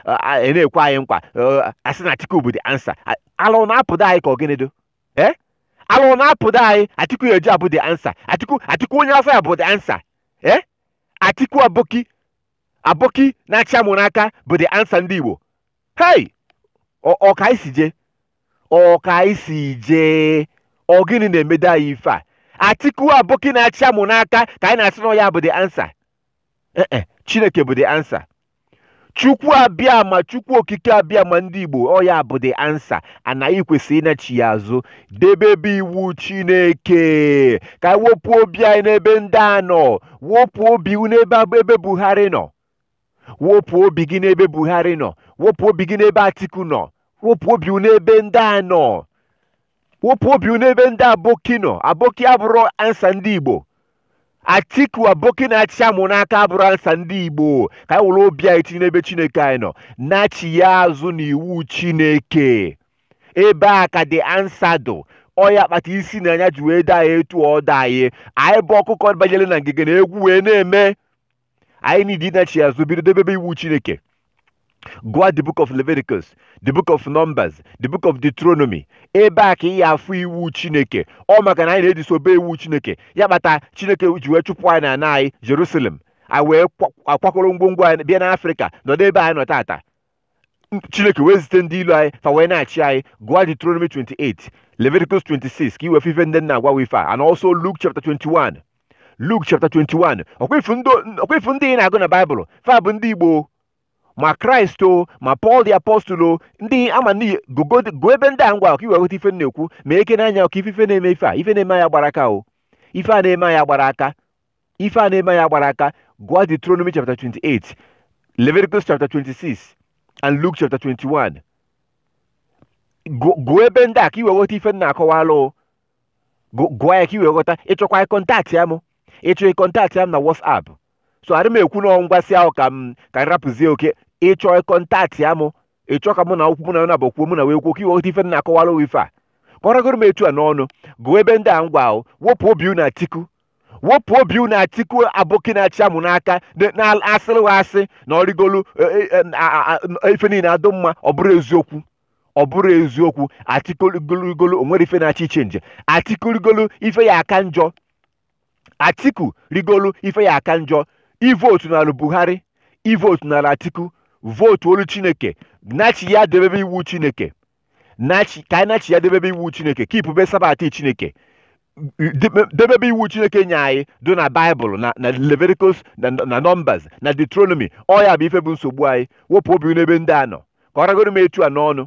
ị na-ekwe anyị nkwa asị na Atiku bụ the answer ala ọ na-apụdo anyị ka ọ gịnịdo ee ala ọ na-apụdo anyị Atiku ya eji abụ the answer Atiku Atiku onye afọ ya bụ the answer ee Atiku Aboki Aboki na-achị amụ n'aka bụ the answer ndị Igbo hei ọka isi jee ọka isi jee ọ gịnị na-emedo anyị ife a Atiku Aboki na-achị amụ n'aka ka anyị na-asị na ya bụ the answer ee eh, eh, chineke bụ the answer chukwu abịama chukwu okike abịama ndị igbo ọ ya bụ the answer anyị kwesịrị ịnachigha azụ debebe iwu chineke ka anyị wepụ obi anyị n'ebe ndị a nọ wepụ obi n'ebe buhari nọ wepụ obi gị n'ebe buhari nọ wepụ obi gị n'ebe atiku nọ wepụ obi unu ebe ndị a nọ wepụ obi unu ebe ndị aboki nọ aboki abụrọ answer ndị igbo atiku aboki na-achị amụ n'aka abụrọ answer ndị igbo ka anyị were obi anyị tinye n'ebe chineke anyị nọ nachigha azụ n'iwu chineke ebe a ka the answer dụ ọ ya kpata isi na anya ji wee dị anyị etu ọ dị anyị anyị bụ ọkụkọ banyere na ngige na egwu wee na-eme anyị need ịnachi azụ bido debebe iwu chineke gụọ the book of leviticus the book of numbers the book of deuteronomy ebe a ka ị ya-afụ iwu chineke ọ maka na anyị na-edisobey iwu chineke ya kpata chineke ji wee chụpụ anyị na ana anyị jerusalem anyị wee kwa- akwakọrọ ngwongwo anyị bịa n'africa nọdụ ebe anyị nọ tata chineke wee zite ndị ilo anyị fa wee na-achị anyị gụọ Deuteronomy 28 Leviticus 26 ka i wee fụ ife ndị m na-agwa ife a and also Luke chapter 21 Luke chapter 21 ọ kwa ị fụ ndị ị na-agụ na Baịbụl fa bụ ndị Igbo ma Christ o ma Paul the apostle o ndị ama n'iyi gụọ ebe ndị a m gwa ụ ka i wee ghọta ife m na-ekwu meghekene anya ụ ka ị fụ ife na-eme ife a ife na-eme anyị agbarọ aka o ife a na-eme anyị agbarọ aka ife a na-eme anyị agbarọ aka gụọ Deuteronomy chapter 28 Leviticus chapter 26 and Luke chapter 21 gụọ ebe ndị a ka i wee ghọta ife m na-akọwalụ gụọ ya ka i wee ghọta ị chọkwa ịcontactịa m ị chọọ ịcontactịa m na WhatsApp so adị m ekwu na m gwasịa ụ ka m ka m rapụzie okay ị chọọ ịcontactịa m ị chọọ ka mụ na ụ kwuo mụ na naabọ kwuo mụ na wee kwuo ka i wee ghọta ife m na-akọwalụ ife a kọrọgoro m etu a n'ọnụ gụọ ebe ndị a m gwa ụ wepụ obi unu atiku wepụ obi unu atiku aboki na-achị amụ n'aka dị- na asịrị wa asị na ọ rigolu e, e, e, a- a- a- ife niile adụ mma ọ bụrọ eziokwu ọ bụrọ eziokwu atiku rigolu o nwerọ ife na-achọ ịchange atiku rigolu ife ya aka njọ atiku rigolu ife ya aka njọ evotunalụ buhari evotunalụ atiku votuolu chineke nachigha debebe iwu chineke nachi ka anyị nachi ya debebe iwu chineke kipube sabatị chineke debe- debebe iwu chineke nye anyị dị na baịbụl na na leviticus na na numbers na deuteronomy ọ ya bụ ife bụ nsogbu anyị wepụ obi n'ebe ndị a nọ ka ọ ragoro m etu a n'ọnụ